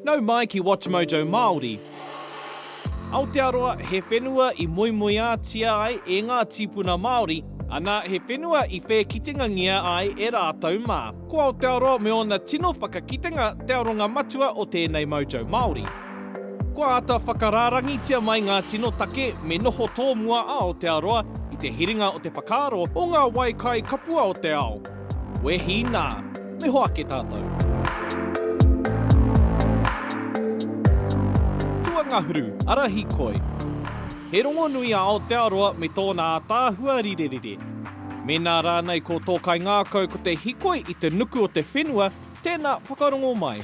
Nau mai ki WatchMojo Māori. Aotearoa he whenua i moemoeātia ai e ngā tīpuna Māori, ana he whenua i whēkitengangia ai e rātou mā. Ko Aotearoa me ōna tino whakakitenga te aronga matua o tēnei Mojo Māori. Kua āta whakarārangitia mai ngā tino take me noho tōmua a Aotearoa i te hiringa o te whakaaro o ngā wai kai kapua o te ao. Wehi nā! Noho ake tātou! Tuangahuru, Arahi Koi. He rongonui a Aotearoa me tōna ātaahua rirerire. Mēnā rānei ko tō kaingākau ko te hikoi i te nuku o te whenua, tēnā whakarongo mai.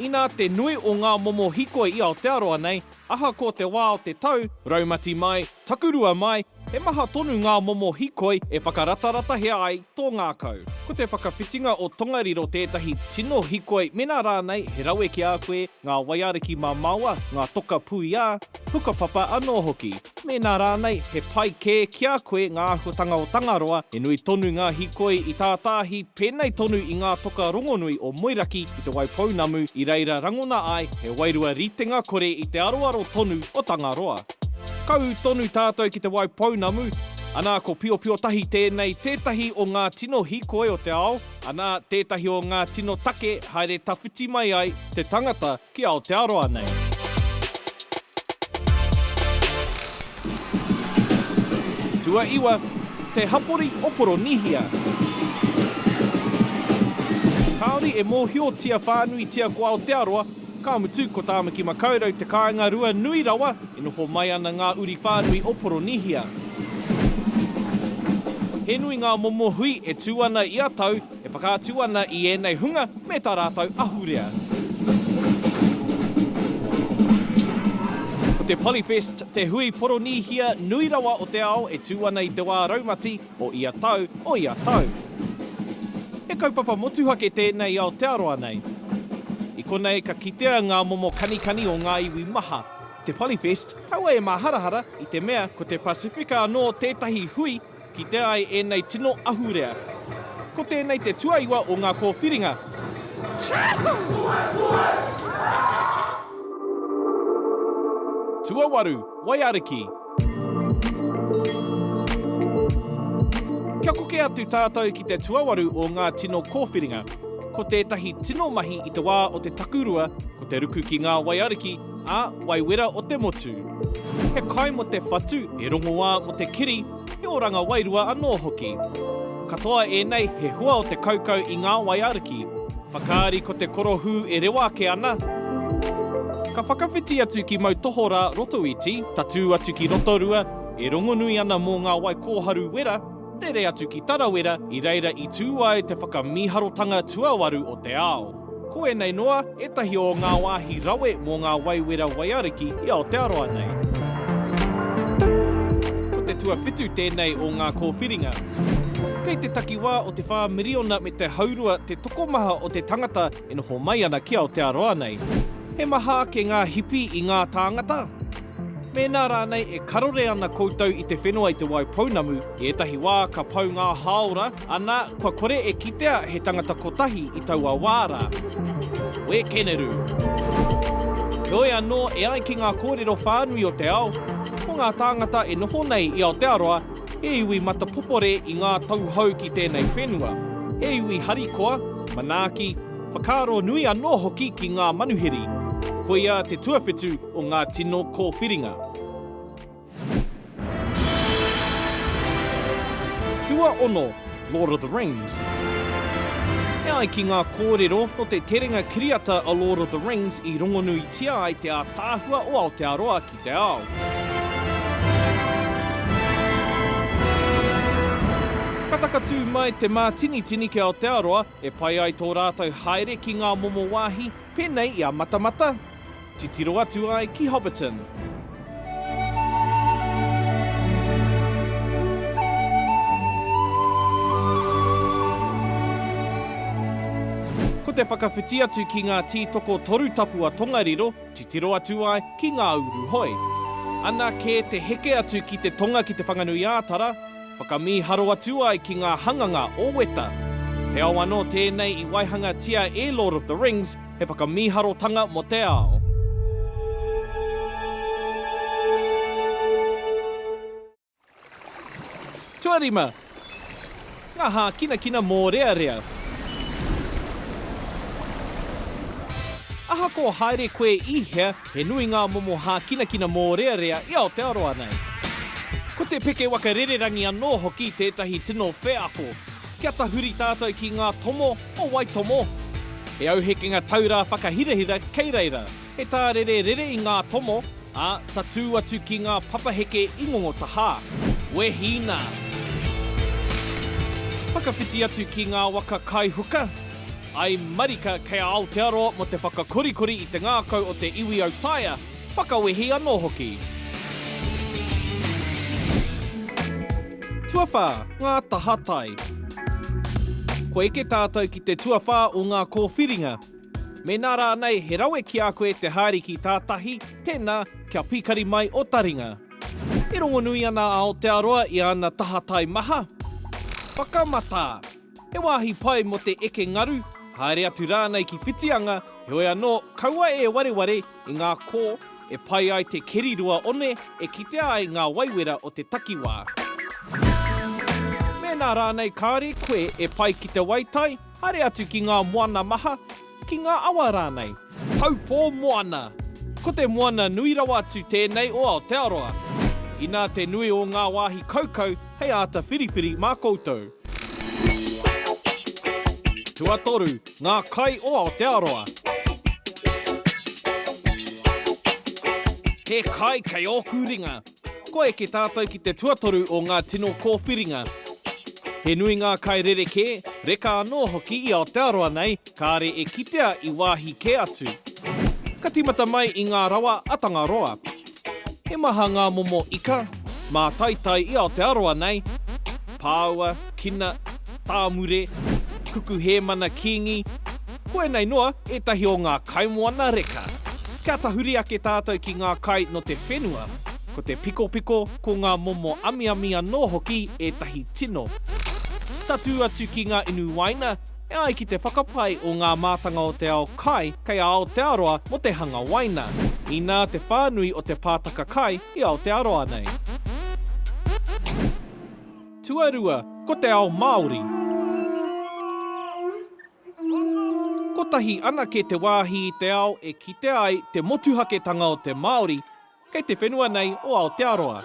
Inā te nui o ngā momo hikoi i Aotearoa nei, Ahakoa te wā o te tau, raumati mai, takurua mai, he maha tonu ngā momo hikoi e whakarataratahia ai tō ngākau. Ko te whakawhitinga o Tongariro tētahi tino hikoi mēnā rānei he rawe ki a koe ngā waiariki mamaoa, ngā toka puia, hukapapa anō hoki. Mēnā rānei, he pai kē ki a koe ngā āhuatanga o Tangaroa, he nui tonu ngā hīkoi i tātāhi, pēnei tonu i ngā toka rongonui o Moeraki ki te Waipounamu i reira rangona ai he wairua ritenga kore i te aroaro tonu o Tangaroa. Ka ū tonu tātou ki te Waipounamu, anā ko Piopiotahi tēnei tētahi o ngā tino hīkoi o te ao, anā tētahi o ngā tino take haere tawhiti mai ai te tangata Ki Aotearoa nei. Tuaiwa, te hapori o Poronihia. Kāore e mōhiotia whānuitia ko Aotearoa, ka mutu ko Tāmaki Makaurau te kāinga rua nui rawa e noho mai ana ngā uri whānui o Poronihia. He nui ngā momo hui e tū ana ia tau, E whakaatu ana i ēnei hunga me tā rātou ahurea. Ko te Polyfest te hui Poronīhia nui rawa o te ao e tū ana i te wā raumati o ia tau, o ia tau. He kaupapa motuhake tēnei i Aotearoa nei. I konei ka kitea ngā momo kanikani o ngā iwi maha. Te Polyfest kaua e māharahara i te mea ko te Pasifika anō tētahi hui Kitea ai ēnei tino ahurea. Ko tēnei te tuaiwa o ngā kōwhiringa. Tuawaru, Waiariki. Kia koke atu tātou ki te tuawaru o ngā tino kōwhiringa. Ko tētahi tino mahi i te wā o te takurua ko te ruku ki ngā waiariki, Ā, wai wera o te motu. He kai mō te whatu, he rongoā mō te kiri, he oranga wairua anō hoki. Katoa ēnei, he hua o te kaukau i ngā wai aruki. Whakaari ko te korohū e rewa ake ana. Ka whakawhiti atu ki mau tohorā Rotoiti, tatū atu ki Rotorua, e rongonui ana mō ngā wai kōharu wera. Rere atu ki Tarawera i reira i tū ai te whakamīharotanga tuawaru o te ao. Ko ēnei noa ētahi o ngā wāhi rawe mō ngā waiwera waiariki i Aotearoa nei. Ko te tuawhitu tēnei o ngā kōwhiringa. Kei te takiwā o te whā miriona me te haurua te tokomaha o te tangata e noho mai ana ki Aotearoa nei. He maha ake ngā hipi i ngā tāngata? Mēnā rānei e karore ana koutou i te whenua i te wai pounamu, i ētahi wā ka pau ngā hāora, ana, kua kore e kitea he tangata kotahi i taua wā rā. Wēkeneru. Heoi anō, e ai ki ngā kōrero whānui o te ao, ko ngā tāngata e noho nei i Aotearoa, he iwi matapopore i ngā tauhou ki tēnei whenua, he iwi harikoa, manaaki, whakaaro nui anō hoki ki ngā manuhiri. Koia te tuawhitu, o ngā tino kōwhiringa. Tuaono, Lord of the Rings E ai ki ngā kōrero, nō te terenga kiriata a Lord of the Rings i rongonuitia ai te ātaahua o Aotearoa ki te ao. Ka takatū mai te mātinitini ki Aotearoa e pai ai tō rātou haere ki ngā momo wāhi, pēnei i a Matamata, Titiro atu ai ki Hobbiton. Ko te whakawhiti atu ki ngā tītoko toru tapu a Tongariro, titiro atu ai ki Ngā Uru Hoi. Ana kē te heke atu ki te tonga ki Te Whanganui-ā-Tara, whakamīharo atu ai ki ngā hanganga o Weta. He ao anō tēnei i waihangatia e Lord of the Rings, He whakamīharotanga mō te ao. Tuarima, Ngā hākinakina mōrearea. Ahakoa haere koe i hea, he nui ngā momo hākinakina mōrearea i Aotearoa nei. Ko te peke waka rererangi anō hoki tētahi tino wheako, Kia tahuri tātou ki ngā tomo o Waitomo. He auhekenga taurā whakahirahira kei reira. He tārere rere i ngā tomo, ā, tatū atu ki ngā papaheke i Ngongotahā. Wehi nā! Whakawhiti atu ki ngā waka kai huka. I marika kei a Aotearoa mō te whakakorikori i te ngākau o te iwi autaia. Whakawehi anō hoki. Tuawhā, ngā taha tai. Kua eke tātou ki te tuawhā o ngā kōwhiringa. Mēnā rānei he rawe ki a koe te haere ki tātahi, tēnā, kia pikari mai ō taringa. E rongonui ana a Aotearoa i ana taha tai maha. Whakamatā! He wāhi pai mō te eke ngaru, haere atu rānei ki Whitianga, heoi anō, kaua e wareware i ngā kō e pai ai te keri rua one e kitea ai ngā waiwera o te takiwā. Mēnā rānei kāore koe e pai ki te waitai, haere atu ki ngā moana maha, Ki ngā awa rānei. Taupō moana. Ko te moana nui rawa atu tēnei o Aotearoa. Inā te nui o ngā wāhi kaukau hei āta whiriwhiri mā koutou. Tuatoru, ngā kai o Aotearoa. He kai kei ōku ringa. Kua eke tātou ki te tuatoru o ngā tino kōwhiringa. He nui ngā kai rerekē, reka anō hoki i Aotearoa nei, kāre e kitea i wāhi kē atu. Ka tīmata mai i ngā rawa a Tangaroa. He maha ngā momo ika, mātaitai i Aotearoa nei, pāua, kina, tāmure, kuku hēmana kīngi, Koinei noa ētahi o ngā kaimoana reka. Ka tahuri ake tātou ki ngā kai nō te whenua. Ko te pikopiko, ko ngā momo amiami anō hoki ētahi tino. Tatū atu ki ngā inu waina, e ai ki te whakapae o ngā mātanga o te ao kai kei a Aotearoa mō te hanga waina, inā te whānui o te pātaka kai i Aotearoa nei. Tuarua, ko te ao Māori. Kotahi anake te wāhi i te ao e kitea ai te motuhaketanga o te Māori kei te whenua nei o Aotearoa.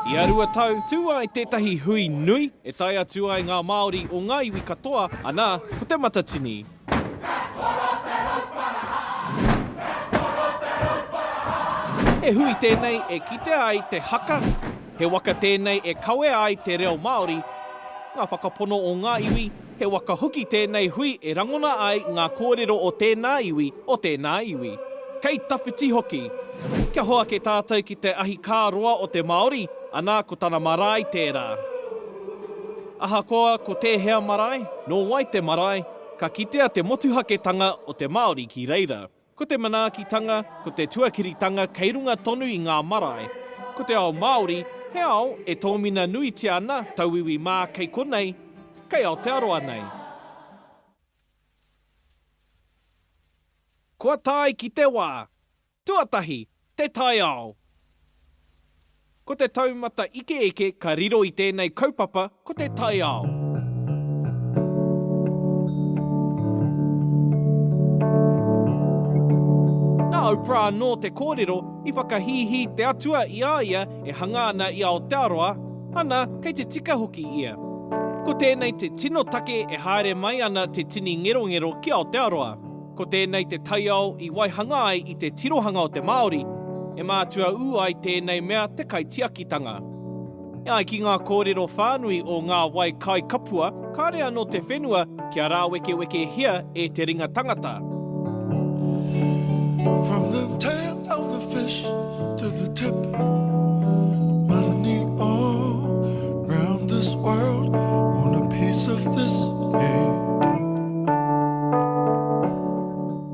Ia rua tau, tū ai tētahi hui nui e tae atu ai ngā Māori o ngā iwi katoa, anā, ko Te Matatini. He hui tēnei e kitea ai te haka, he waka tēnei e kawea ai te reo Māori, ngā whakapono o ngā iwi, he waka hoki tēnei hui e rangona ai ngā kōrero o tēnā iwi, o tēnā iwi. Kei tawhiti hoki! Kia hoake tātou ki te ahi kā roa o te Māori, anā ko tana marae tērā. Ahakoa ko tēhea marae, nō wai te marae, ka kitea te motuhaketanga o te Māori ki reira. Ko te manaakitanga, ko te tuakiritanga kei runga tonu i ngā marae. Ko te ao Māori, he ao e tōmina nuitia ana, tauiwi mā kei konei, kei Aotearoa nei. Kua tae ki te wā! Tuatahi, te taiao. Ko te taumata ikeike ka riro i tēnei kaupapa ko te taiao. Nā Oprah anō te kōrero i whakahīhī te Atua i a ia e hanga ana i Aotearoa, ana, kei te tika hoki ia. Ko tēnei te tino take e haere mai ana te tini ngerongero ki Aotearoa. Ko tēnei te taiao i waihanga ai i te tirohanga o te Māori, e mātua ū ai tēnei mea te kaitiakitanga. E ai ki ngā kōrero whānui o ngā wai kaikapua, kāre anō te whenua kia rāwekewekehia e te ringa tangata. Tell the fish to the tip Money all round this world On a piece of this cake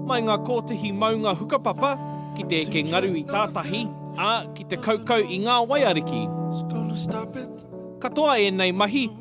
Mai ngā kōtihi maunga hukapapa ki te eke ngaru i tātahi, ā, ki te kaukau i ngā waiariki. Katoa ēnei mahi,